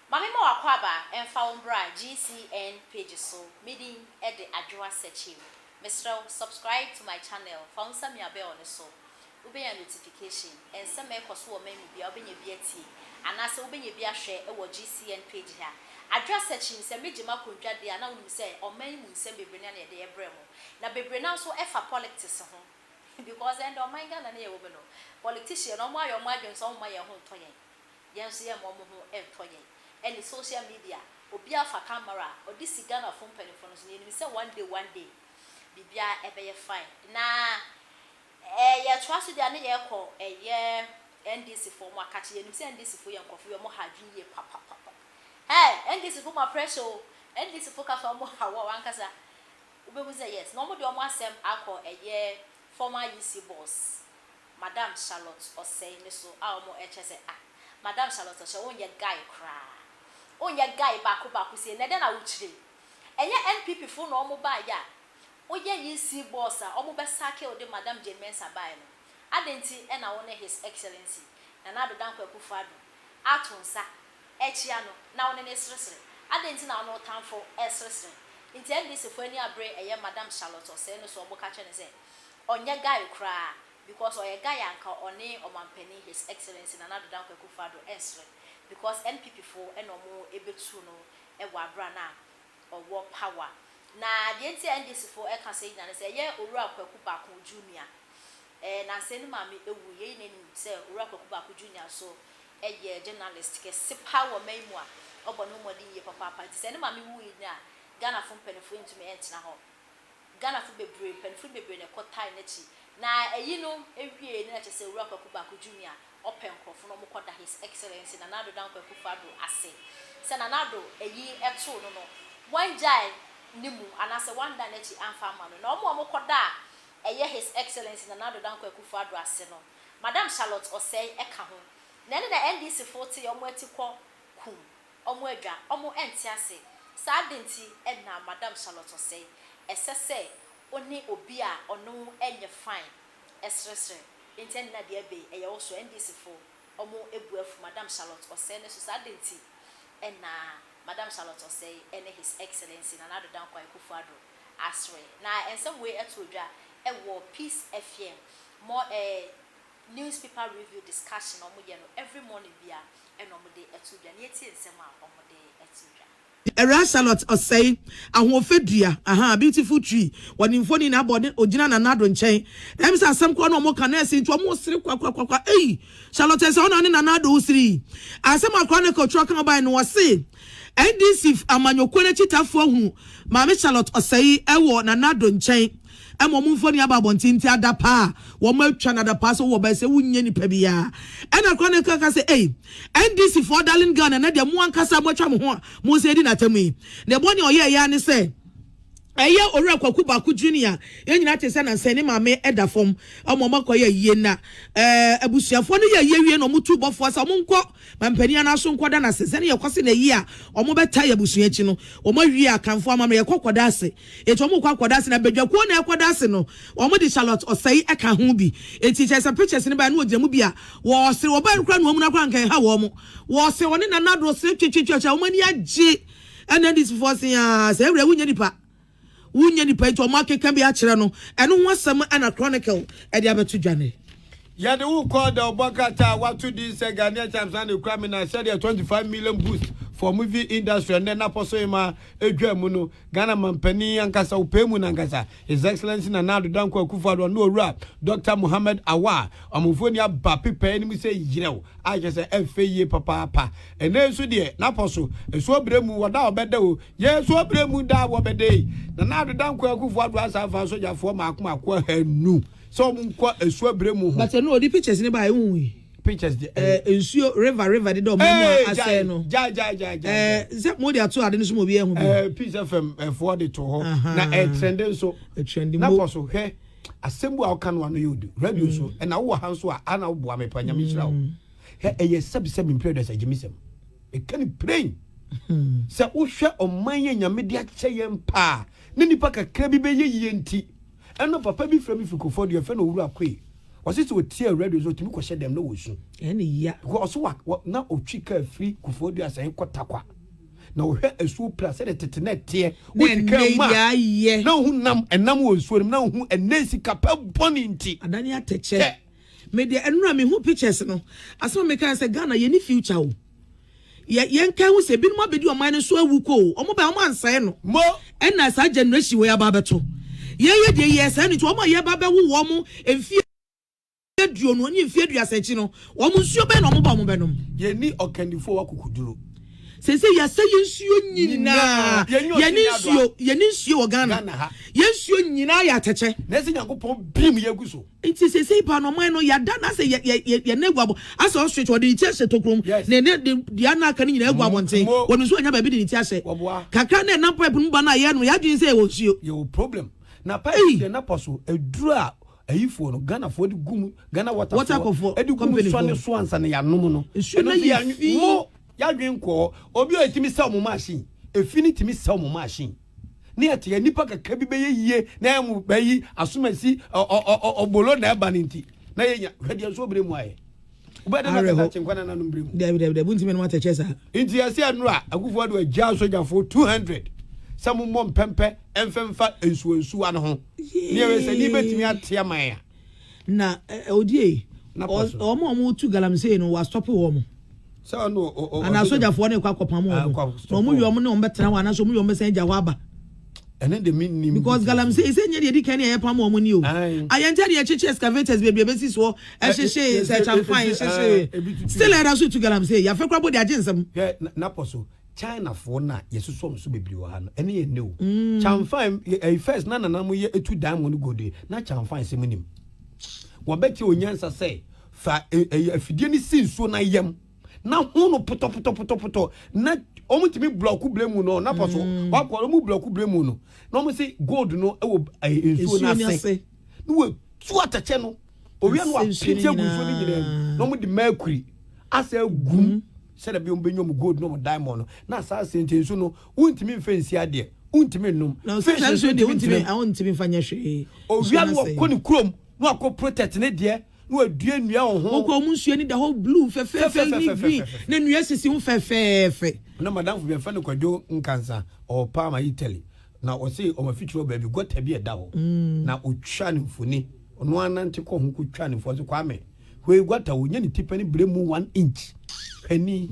Ma me ma w'akwaaba mfa wo mbra GCN page so me din de Adwoa Sekyim Mesrɛ wo subscribe to my channel fa wo nsa mia bell no so wobenya notification nsɛm a ɛkɔ so wɔ man mu biara wobenya bi atie anaa sɛ wobenya bi ahwɛ wɔ GCN page ha Adwoa Sekyim Sɛ me gye m'akondwa deɛ a na wonim sɛ ɔman yi mu nsɛm bebree no a na yɛde rebrɛ mo na bebree no ara nso ɛfa polictics ho because ɛnde ɔman Ghana no a yɛwɔ mu no polictician no wɔn ayɛ wɔn adwene sɛ wɔn mma yɛn ho ntɔ yɛn. Yɛn nso yɛmma ɔmo ho ntɔ yɛn. Ɛne social media obiaa fa camera a ɔde si Ghana foɔ mpaninfoɔ no so no yɛnim sɛ one day one day biribiaa ɛbɛyɛ fine na ɛɛ yɛtoa so deɛ a ne yɛkɔ ɛyɛ NDC foɔ ɔmo akakye yɛnim sɛ NDC foɔ yɛ nkorɔfoɔ yi ɔmo ha adwene yie papapapa hey NDC foɔ mo apressure o NDC foɔ kasa ɔmo ha wo ankasa wobɛhu sɛ yes na ɔmo de ɔmo asɛm akɔ ɛyɛ former UC boss Madam Charlotte Osei no so a wɔn ɛkyɛ sɛ ah Madam Charlotte Osei wo nyɛ guy koraa wo nyɛ guy baako baako sei nɛ dɛn na wo kyire ɛnyɛ NPP foɔ na wɔn baa yɛ a wo yɛ EC boss a wɔn bɛ sacke wo de Madam Jane Mensah baaɛ no adɛn nti ɛna wo ne His Excellency Nana Addo Dankwa Akuffo Addo ato nsa ɛkyia no na wo ne no ɛsresre adɛn nti na wo ne wo tanfo ɛsresre nti NDC foɔ ani abere ɛyɛ Madam Charlotte Osei no so wɔn ka kyerɛ no sɛ Ɔnyɛ guy koraa because ɔyɛ guy a nka ɔne ɔmanpanin His Excellency Nana Addo Dankwa Akufo Addo nsere because NPP foɔ na ɔmo ɛbɛtuu no wɔ aberɛ a na ɔwɔ power. Na deɛ nti a NDC foɔ ɛka sɛi nyinaa ne sɛ ɛyɛ Owura Kwaku Baako Junior ɛɛ Nansei ne maame ɛwu yɛn nyinaa nim sɛ Owura Kwaku Baako Junior nso ɛyɛ journalist kɛse paa wɔ man mu a ɔbɔ ne ho mmɔden yie papaapa nti sɛ ne maame wuui no a Ghana foɔ mpaninfoɔ ɛntumi ɛntena hɔ Ghanafo bebree, mpanyimfo no bebree na ɛkɔtae n'akyi. Na ayi no awiei no na kyerɛ sɛ Owura Kwaku Baako Junior ɔpɛ nkurɔfo na wɔkɔda His Excellency Nana Addo Dankwa Akuffo Addo ase. Sɛ Nana Addo ayi too no no, wɔangyae ne mu anaasɛ wɔandan n'akyi amfa amma no. Na wɔn a wɔkɔda a ɛyɛ His Excellency Nana Addo Dankwa Akuffo Addo ase no, Madam Charlotte Osei ka ho. Na ɛnna na NDCfo te wɔn ati kɔ kum Ɔmo adwa, ɔmo ɛnte ase. Saa ade nti na Madam Charlotte ɔsɛe. Ɛsɛ sɛ wone obi a ɔne wo ɛnyɛ fine ɛsresre. Nti ɛne na deɛ ɛbee ɛyɛ wo so. NDC fo ɔmo abu afu Madam Charlotte ɔsɛe no so. Saa ade nti na Madam Charlotte ɔsɛe ɛne His Excellency Nana Addo Dankwa Akuffo Addo asre. Na ɛnsɛm wei ɛto odwa ɛwɔ Peace FM mɔ ɛɛ. newspaper review discussion a wɔyɛ no every morning biara ɛna wɔde ɛto dwa na yɛtie nsɛm a wɔde ɛto dwa. Ɛwura Charlotte Osei, Ahoɔfɛ dua, ahaa, beautiful tree, wɔ ne mfoni na abɔ ne ogyina Nana Addo nkyɛn. Ɛm sɛ asɛm koraa na wɔn reka, nɛɛse nti wɔn resere kwakwakwa, ei, Charlotte ɛnsɛ hɔ na wo ne Nana Addo resere yi. Asɛm a koraa na ɛka otwerɛ kan baeɛ no wɔse NDC amanyɔkuo no akyitafoɔ ahunu Maame Charlotte Osei wɔ Nana Addo nkyɛn. ɛma wɔn mfoni aba abɔnten nti adapaa a wɔn atwa no adapaa sɛ wowɔ ba ɛsɛ wonyɛ nipa biara ɛna kora ne kaka sɛ ei NDC foɔ darling Ghana na deɛ mo ankasa mo atwa mo ho a mo nsa edi n'atamu yi ne bɔ ne ɔyɛ ɛyɛ ne sɛ ɛyɛ owura kwaku baako junior a yɛn nyinaa te sɛ nansɛ ne maame ɛda fam ɔmo ɔmo akɔ yɛ yie na ɛɛ abusuafoɔ no yɛ yie wie na ɔmo tu bɔfoɔ sɛ ɔmo nkɔ mampanin anaso nkɔ da n'ase sɛ ne yɛkɔ se na yie a ɔmo bɛta yɛ abusua akyi no ɔmo awie akanfoɔ amammerɛ yɛkɔ kɔda ase Enti wɔkɔ akɔda ase, na badwakuo no a ɛkɔda ase no, wɔde Charlotte Osei ka ho bi. Enti kyerɛ sɛ pictures no baeɛ no wɔgyina mu bi a wɔresere. Wɔbaeɛ no koraa no wɔn amuna koraa anka ɛnha wɔn. Wɔsere wɔne Nana Addo sere twetwetwe a wɔn ani agye. Ɛna NDC foɔ se a sɛ ɛwerɛ wonyɛ nipa. Wonyɛ nipa enti wɔn akeka bi akyerɛ no. Ɛno ho asɛm ɛna Chronicle ɛde abɛto dwa nnɛ. Yɛde wo kɔɔ The Ɔbɔ Nkrataa a wɔato din sɛ Ghanaian Charms na ne kura me na sɛdeɛ 25 million boost for movie industry a nnɛ Napɔsohema dwaa mu no, Ghana Mampanin ankasa, wo pɛɛ mu no ankasa, His Excellency Nana Addo Dankwa Akufo-Addo ɔne Owura Dɔkta Mohammed Awar a wɔn mfoni aba pepae no mu sɛ yerɛw a kyerɛ sɛ ɛfɛ yie papaapa. Ɛnnɛ yi nso deɛ, Napɔso, ɛsoɔ berɛ mu, wɔda a wɔbɛda o, yɛɛ soɔ berɛ mu da a wɔbɛda ei, Nana Addo Dankwa Akufo-Addo asan faa sogyafoɔ mmaako mmaako ahanu, sɛ ɔmo nkɔ esu abire mu ho. But ɛno ɔde pictures ne baayɛ wohu yi. Pictures deɛ ɛɛ. Ɛɛ nsuo river river deda ɔmo mu a asɛe no. Gyae gyae gyae gyae. Ɛɛ sɛ mo de ato ade no so ma obi ɛho bi. Ɛɛ Peace FM ɛfoɔ de to hɔ na ɛtrɛnde nso. Ɛtrɛnde mo. Na kɔ so hwɛ asɛm bu a ɔka no ano yɛ odu radio so ɛna wowɔ ha nso a ana woboa me pa nyame nhyira wo. Hɛ ɛyɛ sɛbi sɛbi mpire dɔ sɛ gyimi sɛm. Ɛka ne plain. Sɛ wohwɛ ɔman yɛ nyame de akyɛ yɛn paa ne nipa kakra bi bɛyɛ yie nti. Ɛna papa bi frɛ me firi Kofoɔ Dua, yɛfrɛ no Owura Koi. Ɔse sɛ ɔtie radio nso ɔtumi kɔhyɛ dɛm na wɔsu. Ɛne ya. Because ɔse wa, wa, na ɔtwi kaa firi Kofoɔ Dua sɛn kɔ Tarkwa. Na ɔhwɛ asuo pira sɛdeɛ tete na ɛteɛ. Woti kaa mu a, na wohu nam, ɛnam wɔ nsuo no mu, na wohu ɛnɛ sika pɛ bɔne nti. Adane atɛkyɛ. Hwɛ. Me deɛ ɛno na mehu pictures no, asɛm a mekaeɛ sɛ Ghana yɛnni future o. Yɛ yɛnkae ho sɛ ebinom abɛdi ɔman no so awu kɔ o, wɔn bae a wɔn ansɛe no, ɛna saa generation wei aba abɛto yɛn yɛ deɛ yɛɛ saa no nti wɔn a yɛba abɛwo wɔn mfeɛ aduonu ne mfeɛ aduasa akyi no wɔn nsuo bɛn na wɔn ba wɔn bɛnom. Yɛnni ɔkandifoɔ wɔ akokoduro. Seesei yɛasɛ yɛn nsuo nyinaa, yɛne nsuo, yɛne nsuo wɔ Ghana, yɛn nsuo nyinaa yɛ atɛkyɛ. Nanso Nyankopɔn bim yɛgu so. Nti sesei paa no ɔman no yɛada no asɛ yɛ yɛ yɛne agu abɔ asɛ ostrich wɔde ne ti ahyɛ tokuro mu na ɛne de dua no aka no nyinaa agu abɔnten wɔn nso anya baabi de ne ti ahyɛ kakra na ɛnam pipe no mu ba no a yɛnom yɛ adwene sɛ yɛwɔ nsuo. Yɛwɔ problem na pipe deɛ na pɔ so aduru a ayifoɔ no Ghanafoɔ de gu mu Ghana water water kɔfoɔ de gu mu sɔne so ansa na yɛanom no nsuo no yɛ fi yɛadwene nkɔɔ obi a ɛtumi sɛ ɔmo machine ɛfi no tumi sɛ ɔmo machine. ne ɛte a nnipa kakra bi bɛyɛ yie na ɛyɛ mo bɛ yi asomasi ɔbolo na ɛba no nti na yɛnya hwɛ deɛ nso ɔbrɛ mu ayɛ wobɛde na kasa kyenkwa na nanom brɛ mu dɛbidɛbidɛ bu ntimi nom atɛkyɛ saa nti yɛse ɛno a akufoɔ de agya sogyafo 200 sɛ mommɔ mpɛmpɛ ɛmfɛmfa nsuansuwa no ho ne ɛwɛ sɛ ne bɛtumi ateɛ man a Na eh, odie yi, wɔn a wɔtu galamsey no, wɔastɔpe wɔn. Anaa sogyafoɔ no rekɔ akɔpam wɔn. Ah, na wɔn wie wɔn ne wɔn bɛtena hɔ, anaasɛ wɔn wie wɔn bɛsan agya hɔ aba. ɛne de mi nim. because galamsey sɛ nyɛ deɛ di kan ne ɛyɛ pam wɔn ni o. ayɛnkyɛ deɛ ɛkyekye excavators bebree bɛsi soɔ ɛhyehye nsɛkyamfan ɛhyehye still ɛda so tu galamsey yafɛ kora bɔ de agye nsɛm. hwɛ napɔ so Chinafoɔ no a yɛsosɔ wɔn so bebree wɔ ha no, ɛne yɛn nnɛ o. Chanfan, ɛyi first na nana mo yɛ etu diamond gold yi, na chanfan sɛ mo nim. Wɔbɛkyɛ onyansa sɛ fa ɛyi afidie no si nsuo na yam na ho no potɔpotɔpotɔpotɔ na wɔn tumi blɔko bere mu no na pɔ so wakɔ wɔn blɔko bere mu no na wɔn si gold no wɔ ɛyi nsuo no ase na wɔtu atɛkyɛ no owia no apete agu nsuo no nyinaa mu na wɔn de mercury asɛ gum. Sɛdeɛ ɛbɛyɛ wɔbɛnya wɔn gold ne wɔn diamond no, na saa sente nso no, wontumi mfa nsi adeɛ, wontumi nnom, fish nso wontumi ntena mu. Owia no wakɔ ne kurom na wakɔ protect ne deɛ na wadua nnua wɔ ho. Wokɔ wɔn nsuo ani da hɔ blue fɛfɛɛfɛ ne green na nnua sisi ho fɛfɛɛfɛ. Na madamfo bi yɛfrɛ no Kwadwo Nkansa, ɔwɔ Parma, Italy, na ɔse wɔn afikyiri hɔ baabi gɔta bi a ɛda hɔ na ɔtwaa no mfoni, ɔno ara nante kɔɔ ho kɔtwaa no mfoni, ɔse Kwame, Hwɛ gutter o, nyɛ ne tipɛ ne brɛ mu one inch. Hwɛ ni,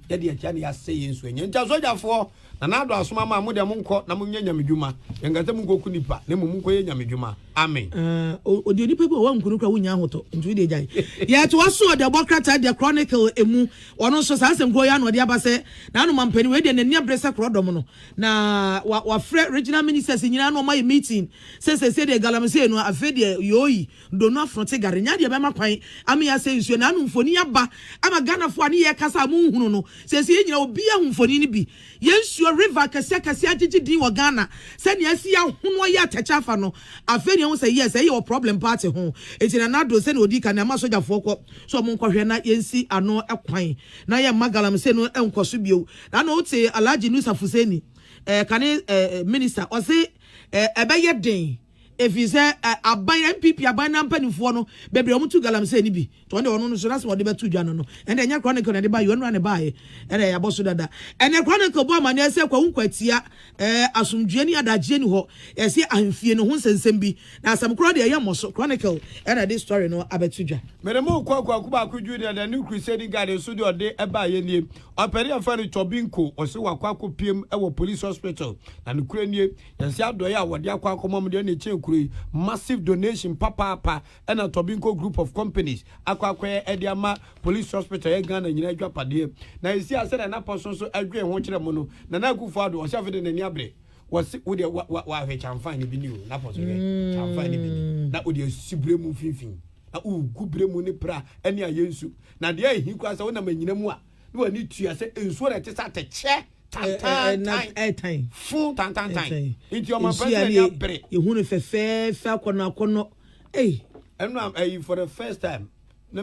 yɛ deɛ akyia na yɛ asɛ yɛ nsuo nyɛ. Nti asogyafoɔ, Nana Addo asom ama a, mo deɛ mo nkɔ na mo nyɛ Nyame dwuma. Yɛ nka sɛ mo nkɔ ku nipa, na mmom mo nkɔ yɛ Nyame dwuma. Amen. Aah ɔdeɛ nipa bi wɔ hɔ a wanku no koraa wonnya ahotɔ, nti wodeɛ gyae. Yɛtoa so o, Dɛbɔ krataa deɛ Chronicle emu, ɔno nso saa asɛm korɔ yi ara na ɔde aba sɛ n'ano ma mpanin, wei deɛ n'ani abere sɛ korɔdɔm no, na wafrɛ Regional Ministers nyinaa na wɔayɛ meeting sɛ seesei deɛ Galamsey no afei deɛ yooii. Dono afro te gare nya deɛ bɛma kwan ama yɛasɛe nsuo no ano mfoni aba ama Ghanafoɔ a ne yɛ kasa a monhunu no seesei yɛ nyina obiaa hu mfoni no bi yɛ nsuo river akɛseɛ akɛseɛ agyegye din wɔ Ghana sɛnea asi ahono ayɛ atɛkyɛ afa no afei na yɛhu sɛ yes ɛyɛ wɔ problem paa te ho enti Nana Addo sɛnea ɔdii kan no ɛma sogyafoɔ kɔ so ɔmo nkɔhwɛ na yɛnsi ano kwan na yɛmma galamsey no nkɔ so bio na na wote Alhaji Nusa Fuseni ɛɛ kane ɛɛ minister ɔse ɛɛ ɛbɛyɛ den Efisɛ ɛ aban NPP aban no ara mpanimfoɔ no bebree a wɔtu galamsey no bi to hɔ no deɛ ɔno no so n'asɛm a ɔde bɛto dwa no no ɛnde ɛnyɛ Chronicle na ɛde baeɛ ɔno ara na ɛbaeɛ ɛnna yɛabɔ so dada. Ɛnnɛ Chronicle bɔ amanneɛ sɛ Kwawu Nkwatia ɛ asomdwoeɛ ne adagyeɛ nni hɔ ɛse ahemfie no ho nsɛnsɛm bi na asɛm korɔ deɛ ɛyɛ mmɔso Chronicle ɛnna ɛde story no abɛto dwa. Mede mo rekɔ Kwaku Baako Junior The New Crusading Guide nso deɛ ɔde baeɛ nie. Ɔpanin a yɛfrɛ no Chɔbinko ɔse wakɔ akɔpiem wɔ Police Hospital na nokorɛ nie. Yɛse adɔe a wɔde akɔ akɔma mo deɛ na ɛkyɛn kuro yi massive donation papaapa ɛna Tobinco group of companies akɔ akɔyɛ ɛde ama police hospital yɛ Ghana nyina adwapadeɛ na ɛsi a sɛdeɛ na pɔso nso ɛdwee ho kyerɛ mo no Nana Akufo Addo ɔse afei de n'ani abere wɔse wo deɛ wahwɛ kyanfan ne bi ni o na pɔso hwɛ kyanfan ne bi ni na wode asi bere mu mfimfini na wogu bere mu ne pra ɛne ayɛ nsu na deɛ ɛhi koraa sɛ wonam anyina mu a na w'ani tua sɛ nsuo na ɛte sɛ atɛkyɛ tantantan fo tantantan nti ɔma president ani abere yɛhu no fɛfɛɛfɛ akɔnɔ akɔnɔ ɛyi ɛno a ɛyi for the first time na